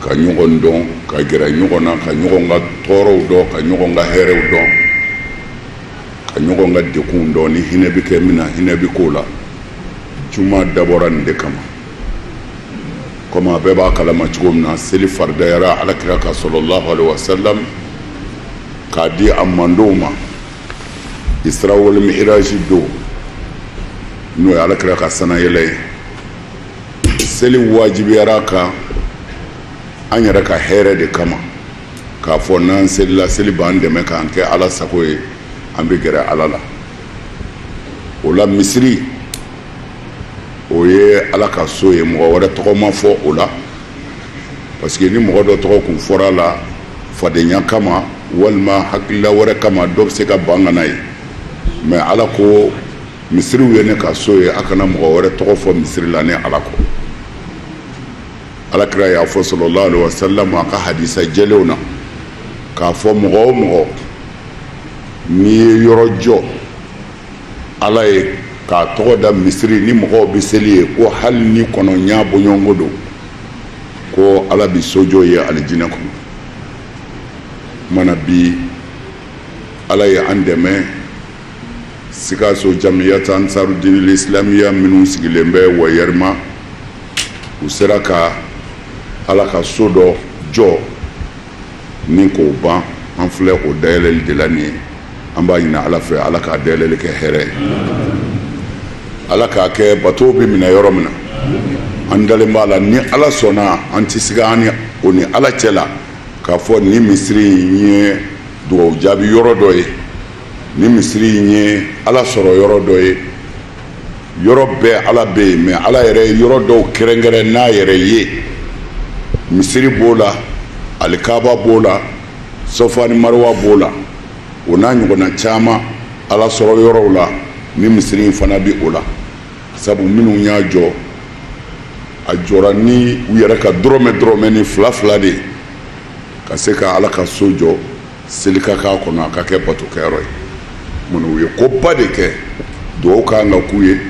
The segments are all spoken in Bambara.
ka ɲɔgɔn dɔn ka gɛrɛ ɲɔgɔn na ka ɲɔgɔn ka tɔɔrɔw dɔn ka ɲɔgɔn ka hɛrɛw dɔn ka ɲɔgɔn ka degunw dɔn ni hinɛ bɛ kɛ min na hinɛ bɛ k'o la juma dabɔra nin de kama komi a bɛɛ b'a kalama cogo min na seli faridayara alakira kan salalahu alaihi wasalam k'a di a mantɔnw ma isra wal mihiraji don n'o ye alakira ka sannayɛlɛn ye seli wajibiyara an kan an yɛrɛ ka hɛrɛ de kama k'a fɔ n'an selila seli b'an dɛmɛ k'an kɛ ala sago ye an bɛ gɛrɛ ala la o la misiri o ye ala ka so ye mɔgɔ wɛrɛ tɔgɔ ma fɔ o la parce que ni mɔgɔ dɔ tɔgɔ kun fɔra a la fadenya kama walima hakilila wɛrɛ kama dɔ bɛ se ka ban ka na yen mɛ ala ko misiriw ye ne ka so ye a kana mɔgɔ wɛrɛ tɔgɔ fɔ misiri la ne ala kɔ alakira y'a fɔ salalahu alaihi wasallam a ka hadisa jɛlenw na k'a fɔ mɔgɔ o mɔgɔ n'i ye yɔrɔ jɔ ala ye k'a tɔgɔ da misiri ni mɔgɔw bɛ seli yen ko hali ni kɔnɔɲaa bɔɲɔgɔnko don ko ala bi so jɔ i ye alijinɛ kɔnɔ mana bi ala ye an dɛmɛ sikaso jamiyata ansaru dinil islamiya minnu sigilen bɛ wayɛrima u sera ka ala ka so dɔ jɔ nin k'o ban an filɛ o dayɛlɛli de la nin ye an b'a ɲini ala fɛ ala k'a dayɛlɛli kɛ hɛrɛ ye ala k'a kɛ batow bɛ minɛ yɔrɔ min na an dalen b'a la ni ala sɔnna an tɛ siga an ni o ni ala cɛ la k'a fɔ nin misiri in ye dugawu jaabi yɔrɔ dɔ ye nin misiri in ye ala sɔrɔ yɔrɔ dɔ ye yɔrɔ bɛɛ ala bɛ yen mɛ ala yɛrɛ yɔrɔ dɔw kɛrɛnkɛrɛn a yɛrɛ ye misiri b'o la alikaba b'o la safa ni mariwa b'o la o n'a ɲɔgɔnna caman ala sɔrɔ yɔrɔw la nin misiri in fana bɛ o la sabu minnu y'a jɔ a jɔra ni u yɛrɛ ka dɔrɔmɛ dɔrɔmɛ ni fila fila de ye ka se ka ala ka so jɔ seli ka k'a kɔnɔ a ka kɛ batokɛyɔrɔ ye munna u ye koba de kɛ dugawu ka kan ka k'u ye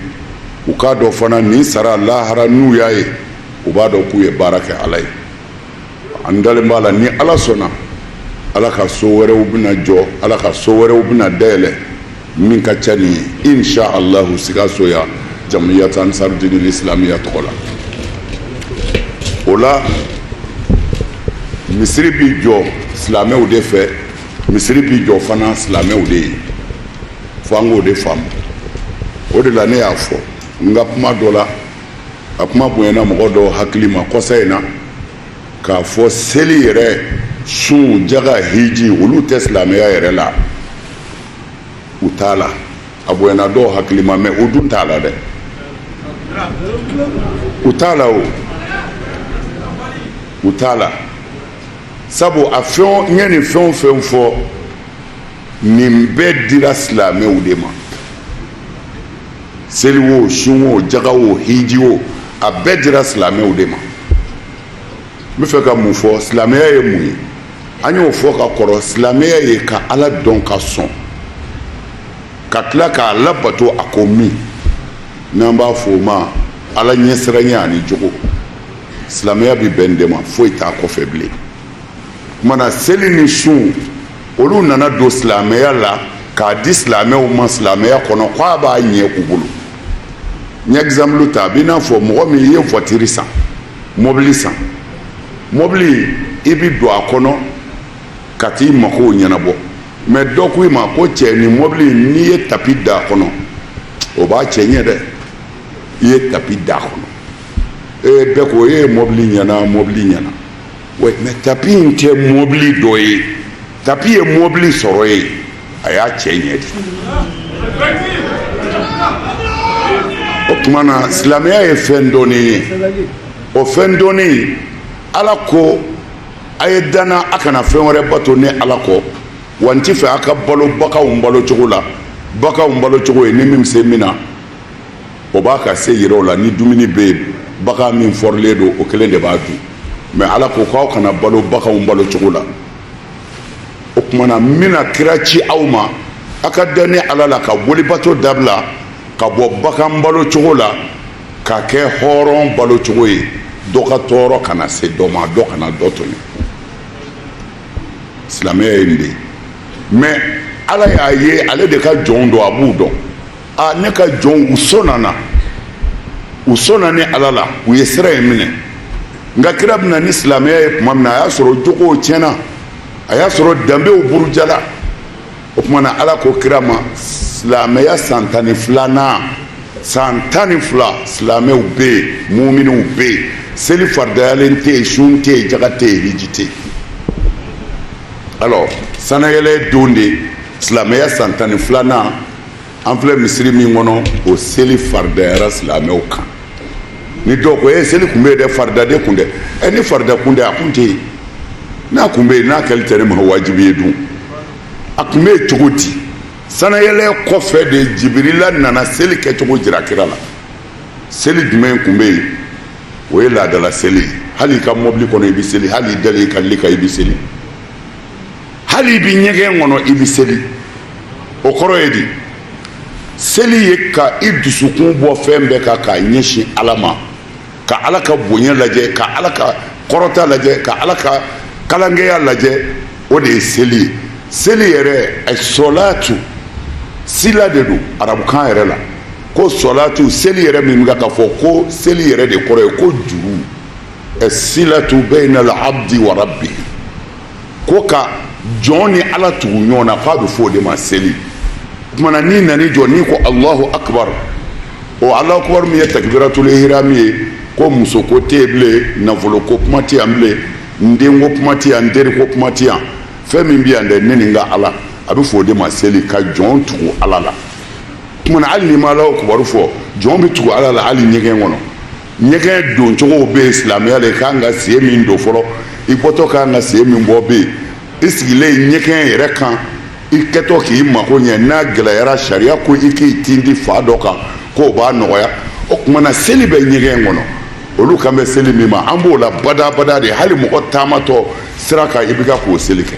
u k'a dɔn fana nin sara lahara n'u y'a ye u b'a dɔn k'u ye baara kɛ ala ye an dalen b'a la ni ala sɔnna ala ka so wɛrɛw bɛna jɔ ala ka so wɛrɛw bɛna dayɛlɛ min ka ca nin ye insha allahu sikaso yan jamiyat ansarudinil islamiya tɔgɔ la o la misiri bi jɔ silamɛw de fɛ misiri bi jɔ fana silamɛw de ye fo an k'o de faamu o de la ne y'a fɔ n ka kuma dɔ la a kuma bonyana mɔgɔ dɔw hakili ma kɔsa in na k'a fɔ seli yɛrɛ sun jaga hiji olu tɛ silamɛya yɛrɛ la u t'a la a bonyana dɔw hakili ma mɛ o dun t'a la dɛ u t'a la o u t'a la sabu an ye nin fɛn o fɛn fɔ nin bɛɛ dira silamɛw de ma seli wo sun wo jaga wo hiji wo a bɛɛ dira silamɛw de ma n bɛ fɛ ka mun fɔ silamɛya ye mun ye an y'o fɔ ka kɔrɔ silamɛya ye ka ala dɔn ka sɔn ka tila k'a labato a ko min n'an b'a fɔ o ma ala ɲɛsiranya ani jogo silamɛya bɛ bɛn de ma foyi t'a kɔfɛ bilen o tuma na seli ni sun olu nana don silamɛya la k'a di silamɛw ma silamɛya kɔnɔ k'a b'a ɲɛ u bolo n ye exemple ta a b'i n'a fɔ mɔgɔ min i ye voiture san mɔbili san mɔbili i bɛ don a kɔnɔ ka t'i makow ɲɛnabɔ mɛ dɔ ko i ma ko cɛ nin mɔbili n'i ye tapi da a kɔnɔ o b'a cɛ ɲɛ dɛ i ye tapi da a kɔnɔ ee bɛɛ ko e ye mɔbili ɲɛna mɔbili ɲɛna mɛ tapi in tɛ mɔbili dɔ ye tapi ye mɔbili sɔrɔ yen a y'a cɛ ɲɛ de o tuma na silamɛya ye fɛn dɔɔni ye o fɛn dɔɔni ala ko a ye da n na a kana fɛn wɛrɛ bato ne ala kɔ wa n t'a fɛ a ka balo baganw balo cogo la baganw balo cogo ye ni min bɛ se min na o b'a ka se yira o la ni dumuni bɛ yen bagan min fɔrilen don o kelen de b'a dun mɛ ala ko k'aw kana balo baganw balo cogo la o tuma na n bɛna kira ci aw ma aw ka da ne ala la ka bolibato dabila ka bɔ bagan balo cogo la ka kɛ hɔrɔn balo cogo ye dɔ ka tɔɔrɔ kana se dɔ ma dɔ kana dɔ tɔɲɔ silamɛya ye nin de ye mɛ ala y'a ye ale de ka jɔnw don a b'u dɔn a ne ka jɔnw u so nana u so na ni ala la u ye sira ye minɛ nka kira bɛ na ni silamɛya ye tuma min na a y'a sɔrɔ jogow tiɲɛna a y'a sɔrɔ danbew burujala o tuma na ala ko kira ma silamɛya san tan ni filanan san tan ni fila silamɛw bɛ yen muminiw bɛ yen seli faridayalen tɛ yen sun tɛ yen jaga tɛ yen hiji tɛ yen alors sanayɛlɛ don de silamɛya san tan ni filanan an filɛ misiri min kɔnɔ o seli faridayara silamɛw kan ni dɔw ko e seli kun bɛ yen dɛ farida de kun tɛ ɛ ni farida kun tɛ a kun tɛ yen n'a kun bɛ yen n'a kɛli tɛ ne ma wajibi ye dun a kun bɛ yen cogo di sanayɛlɛ kɔfɛ de jibirila nana seli kɛcogo jira kira la seli jumɛn kun bɛ yen o ye laadala seli ye hali i ka mɔbili kɔnɔ i bɛ seli hali i dalen i ka li kan i bɛ seli hali i bɛ ɲɛgɛn kɔnɔ i bɛ seli o kɔrɔ ye di seli ye ka i dusukun bɔ fɛn bɛɛ kan k'a ɲɛsin ala ma ka ala ka bonya lajɛ ka ala ka kɔrɔta lajɛ ka ala ka kalankɛya lajɛ o de ye seli ye seli yɛrɛ sɔlatu sila de don arabukan yɛrɛ la ko sɔlatu seli yɛrɛ min bɛ ka fɔ ko seli yɛrɛ de kɔrɔ ye ko juru silatu baynal abdi wa rabbi ko ka jɔn ni ala tugu ɲɔgɔn na k'a bɛ fɔ o de ma seli kuma na n'i nan'i jɔ n'i ko alahu akbar o alahu akbar min ye takibiratul ihram ye ko muso ko tɛ yen bilen nafolo ko kuma tɛ yan bilen n den ko kuma tɛ yan n teri ko kuma tɛ yan fɛn min bɛ yan dɛ ne ni n ka ala a bɛ fɔ o de ma seli ka jɔn tugu ala la kuma na hali n'i ma alahu akbar fɔ jɔn bɛ tugu ala la hali ɲɛgɛn kɔnɔ ɲɛgɛn doncogow bɛ yen silamɛya la i ka kan ka sen min don fɔlɔ i bɔtɔ ka kan ka sen min bɔ bɛ yen i sigilen ɲɛgɛn yɛrɛ kan i kɛtɔ k'i mako ɲɛ n'a gɛlɛyara sariya ko i k'i tindi fan dɔ kan k'o b'a nɔgɔya o tuma na seli bɛ ɲɛgɛn kɔnɔ olu kan bɛ seli min ma an b'o la badabada de hali mɔgɔ taamatɔ sira kan i bɛ ka k'o seli kɛ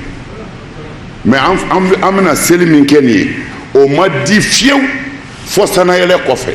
mais an bɛna seli min kɛ nin ye o ma di fiyewu fɔ sanayɛlɛ kɔfɛ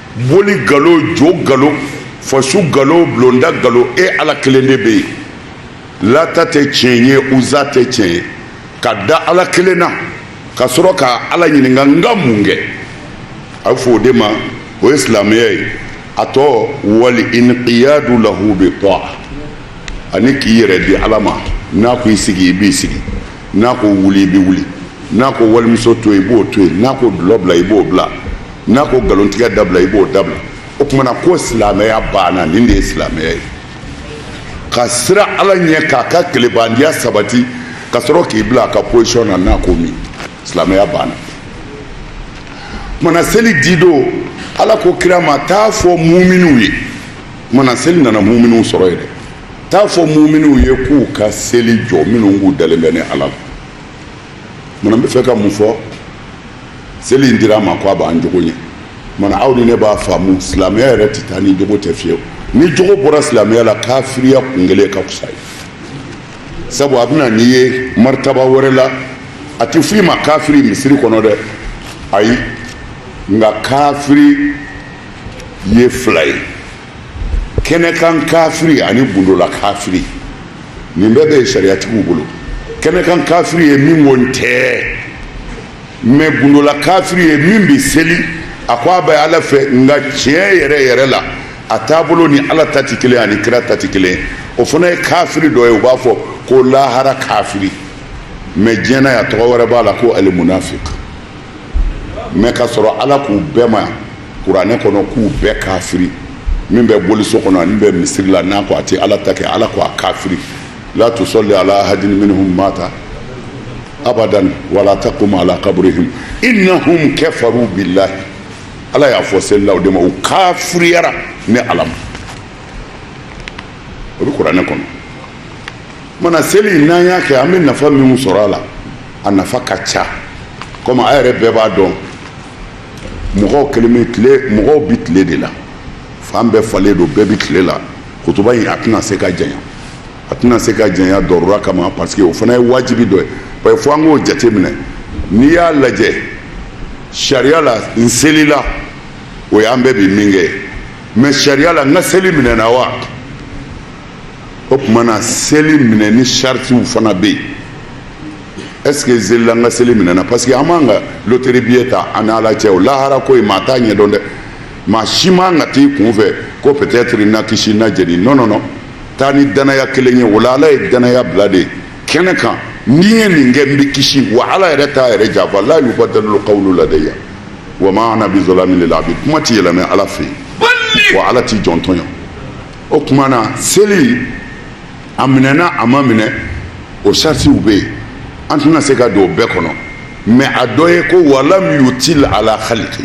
boli galo jo galo fasu galo bulonda galo e ala kelen de bɛ yen lata tɛ tiɲɛ ye uza tɛ tiɲɛ ye ka da ala kelen na ka sɔrɔ ka ala ɲininka n ka mun kɛ a bɛ fɔ o de ma o ye silamɛya ye a tɔ wal inqiyadu lahu bi ta'a ani k'i yɛrɛ di ala ma n'a ko i sigi i b'i sigi n'a ko wuli i bɛ wuli n'a ko walimuso to i b'o to yen n'a ko dulɔ bila i b'o bila n'a ko nkalontigɛ dabila i b'o dabila o tumana ko silamɛya banna nin de ye silamɛya ye ka siran ala ɲɛ k'a ka tilebandiya sabati ka sɔrɔ k'i bila a ka pozisiyɔn na n'a ko min silamɛya banna tumana seli di don ala ko kira ma t'a fɔ muminiw ye tumana seli nana muminiw sɔrɔ yɛrɛ t'a fɔ muminiw ye k'u ka seli jɔ minnu k'u dalen bɛ ne ala la tumana n bɛ fɛ ka mun fɔ seli in dira an ma ko a b'an jogo ɲɛ mana aw ni ne b'a faamu silamɛya yɛrɛ tɛ taa ni jogo tɛ fiyewu ni jogo bɔra silamɛya la kafiriya kun kelen ka fisa i ye sabu a bɛna n'i ye maritaba wɛrɛ la a tɛ f'i ma kafiri misiri kɔnɔ dɛ ayi nka kafiri ye fila ye kɛnɛkan kafiri ani gundola kafiri nin bɛɛ bɛ sariyatigiw bolo kɛnɛkan kafiri ye min ko n tɛ mais gundola kafiri ye min bɛ seli a ko a bɛ ala fɛ nka tiɲɛ yɛrɛ yɛrɛ la a taabolo ni ala ta tɛ kelen ani kira ta tɛ kelen o fana ye kafiri dɔ ye u b'a fɔ ko lahara kafiri mais diɲɛ na yan tɔgɔ wɛrɛ b'a la ko alimunafiki mais ka sɔrɔ ala k'u bɛɛ ma kuranɛ kɔnɔ k'u bɛɛ kafiri min bɛ boliso kɔnɔ ani bɛ misiri la n'a ko a tɛ ala ta kɛ ala ko a kafiri la tusalli ala ahadin minhum mata abadan wala taqum ala qabrihim innahum kafaru billahi ala y'a fɔ selila o de ma u kafiriyara ne ala ma o bɛ kuranɛ kɔnɔ mana seli n'an y'a kɛ an bɛ nafa min sɔrɔ a la a nafa ka ca komi a yɛrɛ bɛɛ b'a dɔn mɔgɔw kelen bɛ tile mɔgɔw bɛ tile de la fan bɛɛ falen don bɛɛ bɛ tile la kutuba in a tɛna se ka janya a tɛna se ka janya darura kama parce que o fana ye wajibi dɔ ye parce que fo an k'o jateminɛ n'i y'a lajɛ sariya la n selila o y'an bɛɛ bɛ min kɛ mais sariya la n ka seli minɛna wa o tuma na seli minɛni saritiw fana bɛ yen est-ce que n selila an ka seli minɛna parce que an b'an ka loterie billet ta an ni ala cɛ o lahara ko in maa t'a ɲɛdɔn dɛ maa si man kan ka t'i kun fɛ ko peut-être n na kisi n na jeni non non non taa ni danaya kelen ye o la ala ye danaya bila de kɛnɛ kan n'i ye nin kɛ n b'i kisi wa ala yɛrɛ t'a yɛrɛ janfa la yubadalu qawlu ladayya wa ma ana bi zalamin lil abid kuma tɛ yɛlɛmɛ ala fɛ yen wa ala t'a jɔn tɔɲɔ o tuma na seli a minɛna a ma minɛ o saritiw bɛ yen an tɛna se ka don o bɛɛ kɔnɔ mɛ a dɔ ye ko walam yutil ala khaliki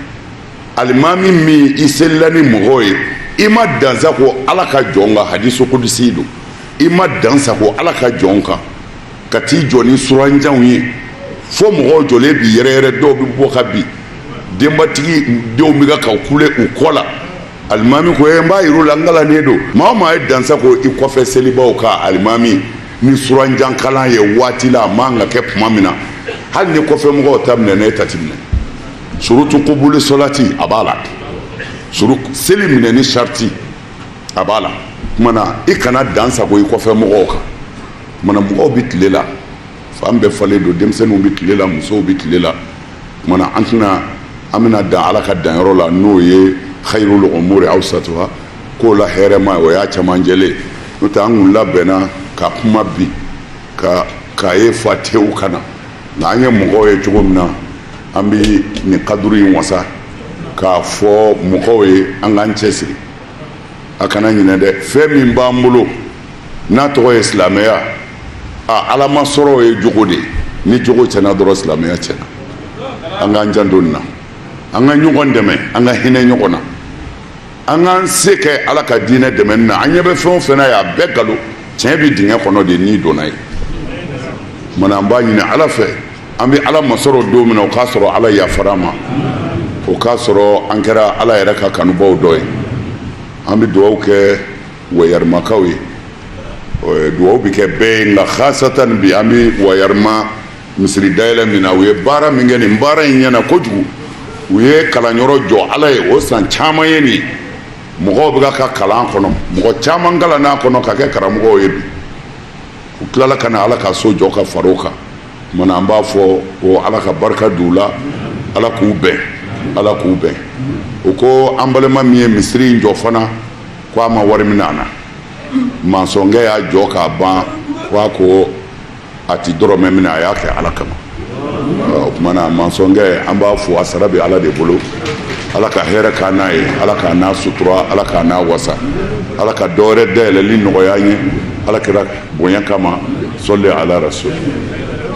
alimami min i selila ni mɔgɔw ye i ma dan sagon ala ka jɔn kan hadisu kudisi don i ma dan sagon ala ka jɔn kan ka t'i jɔ ni suranjanw ye fo mɔgɔw jɔlen bɛ yɛrɛyɛrɛ dɔw bɛ bɔ ka bin denbatigi denw bɛ ka ka kule u kɔ la alimami ko ye n b'a yir'u la n kalannen don maa o maa ye dan sagon i kɔfɛ selibaw kan alimami ni suranjankalan ye waati la a man ka kɛ tuma min na hali ni kɔfɛ mɔgɔw ta minɛna i ta ti minɛ surutu kubuli solati a b'a la suru seli minɛni sariti a b'a la tuma na i kana dan sagon i kɔfɛ mɔgɔw kan tuma na mɔgɔw bɛ tile la fan bɛɛ falen don denmisɛnninw bɛ tile la musow bɛ tile la tuma na an tɛna an bɛna dan ala ka danyɔrɔ la n'o ye hayirul umuri awsatuha ko la hɛrɛma o y'a camancɛla ye n'o tɛ an kun labɛnna ka kuma bi ka k'a ye fa tew ka na nka an ye mɔgɔw ye cogo min na an bɛ nin kaduru in wasa k'a fɔ mɔgɔw ye an k'an cɛ siri a kana ɲinɛ dɛ fɛn min b'an bolo n'a tɔgɔ ye silamɛya a ala masɔrɔ ye jogo de ni jogo cɛna dɔrɔn silamɛya cɛna an k'an janto nin na an ka ɲɔgɔn dɛmɛ an ka hinɛ ɲɔgɔn na an k'an se kɛ ala ka diinɛ dɛmɛ na an ɲɛ bɛ fɛn o fɛn na ye a bɛɛ galon tiɲɛ bɛ dingɛ kɔnɔ de n'i donna yen tuma na an b'a ɲini ala fɛ an bɛ ala masɔrɔ don min o k'a sɔrɔ ala yafara an ma o k'a sɔrɔ an kɛra ala yɛrɛ ka kanubaw dɔ ye an bɛ dugawu kɛ wayɛrɛmakaw ye dugawu bɛ kɛ bɛɛ ye nka hasatan bi an bɛ wayɛrɛma misiri dayɛlɛ min na u ye baara min kɛ nin baara in ɲɛna kojugu u ye kalanyɔrɔ jɔ ala ye o san caman ye nin mɔgɔw bɛ ka kalan a kɔnɔ mɔgɔ caman kalann'a kɔnɔ ka kɛ karamɔgɔ ye bi u tilala ka na ala ka so jɔ ka far'a kan tuma na an b'a fɔ ko ala ka barika don u la ala k'u bɛn ala k'u bɛn u ko an balima min ye misiri in jɔ fana ko a ma wari minɛ an na mansɔnkɛ y'a jɔ k'a ban ko a ko a tɛ dɔrɔmɛ minɛ a y'a kɛ ala kama o tuma na mansɔnkɛ an b'a fɔ a sara bɛ ala de bolo ala ka hɛrɛ k'an n'a ye ala k'an n'a sutura ala k'an n'a wasa ala ka dɔwɛrɛ dayɛlɛli nɔgɔya ye ala kɛra bonya kama sɔli ala rasul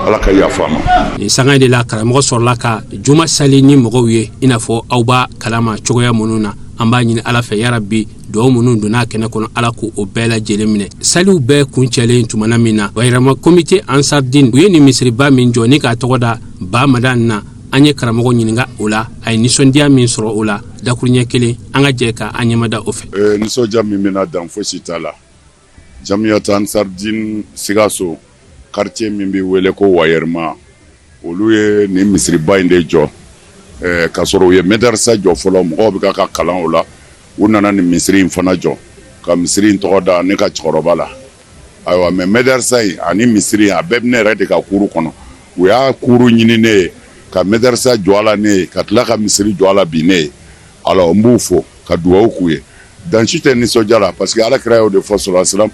ala ka yafa an ma nin sanga de la karamɔgɔ sɔrɔla ka juma sali ni mɔgɔw ye i n'a fɔ aw b'a kalama cogoya minnu na an b'a ɲini ala fɛ yarabi dugawu minnu donna kɛnɛ kɔnɔ ala k'o bɛɛ lajɛlen minɛ saliw bɛɛ kuncɛlen tumana min na wayɛrɛma komite ansardin u ye nin misiriba min jɔ ni k'a tɔgɔ da ba madan na an ye karamɔgɔ ɲininka o la a ye nisɔndiya min sɔrɔ o la dakuruɲɛ kelen an ka jɛ ka an ɲɛmada o fɛ eh, nisɔndiya min bɛ n na dan fosi t'a la Jamiyatu ansardin sikaso karitiye min bɛ wele ko wayɛrɛma olu ye nin misiriba in de jɔ k ka sɔrɔ u ye mɛdɛrɛsa jɔ fɔlɔ mɔgɔw bɛ ka ka kalan o la u nana nin misiri in fana jɔ ka misiri in tɔgɔ da ne ka cɛkɔrɔba la ayiwa mɛ mɛdɛrɛsa in ani misiri a bɛɛ bɛ ne yɛrɛ de ka kuru kɔnɔ u y'a kuru ɲini ne ye ka mɛdɛrɛsa jɔ a la ne ye ka tila ka misiri jɔ a la bi ne ye ala n b'u fo ka dugawu k'u ye dan si tɛ nisɔndiya la parce que Ala kira y'o de fɔ salalahu alehi wasalam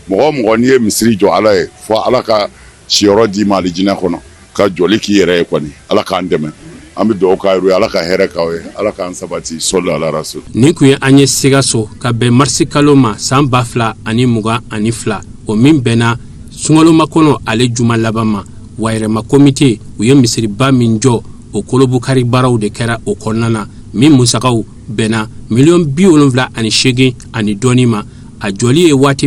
mɔgɔ o mɔgɔ n'i ye misiri jɔ Ala ye fo Ala ka siyɔrɔ d'i ma alijinɛ kɔnɔ ka jɔli k'i yɛrɛ ye kɔni Ala k'an dɛmɛ an bɛ dugawu k'aw yɛrɛw ye Ala ka hɛrɛ k'aw ye Ala k'an sabati sɔli ala rasuli Nin tun ye an ye Sikaso ka bɛn marisi kalo ma san ba fila ani mugan ani fila o min bɛnna sunkalomakɔnɔ ale juma laban ma Wayɛrɛma komite u ye misiriba min jɔ o kurunbonkari baaraw de kɛra o kɔnɔna na min musaga bɛnna miliyɔn bi wolonwula ani segin ani dɔɔnin ma a jɔli ye waati